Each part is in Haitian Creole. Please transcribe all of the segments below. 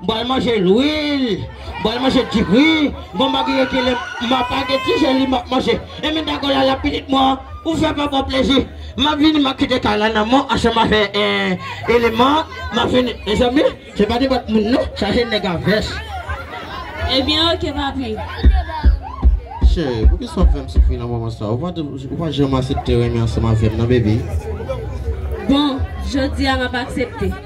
M pral manje lwil, m pral manje diri, m pral manje ekele, m ap lage ti je li m ap manje. E men dago la la pitit mwen an, ou fè papa plezi. M ap vini m ap kite kay la nan men w ansanm avè eleman an. M ap vini. Mezanmi, se pa nenpòt moun non, sa se nèg a vès. Ebyen oke papi. Cheri, poukisa w ap fè m soufri nan moman sa a? Ou pa janm asepte renmen ansanm avè m nan bebe. Bon, jodi a m ap aksepte.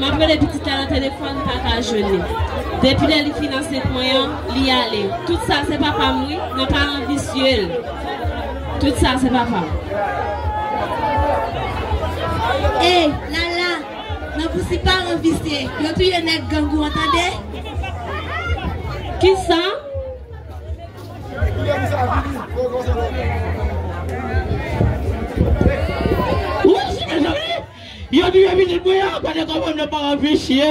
Map rele pitit la nan telefòn m paka jwenn li depi lè li fin ansent mwen an li ale tout sa se papam wi nan paran visye l tout sa se papam. Ey lala nan pousi paran visye yo touye nèg gang ou an tande. Kisa? Ou rejine jovini? Yo touye pitit mwen an gade kòman m nan paran visye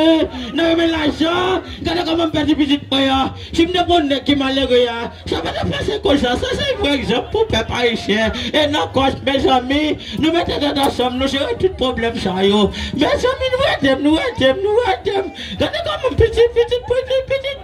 nan renmen lajan gade kòman m pèdi pitit mwen an si m te konn nèg ki malere a sa pa tap pase konsa sa se vrè egzanp pou pèp ayisyen e nan kòs mezanmi nou mete tèt ansanm nou jere tout pwoblèm sa yo mezanmi nou edem nou edem nou edem gade kòman m piti pitit pitit pitit.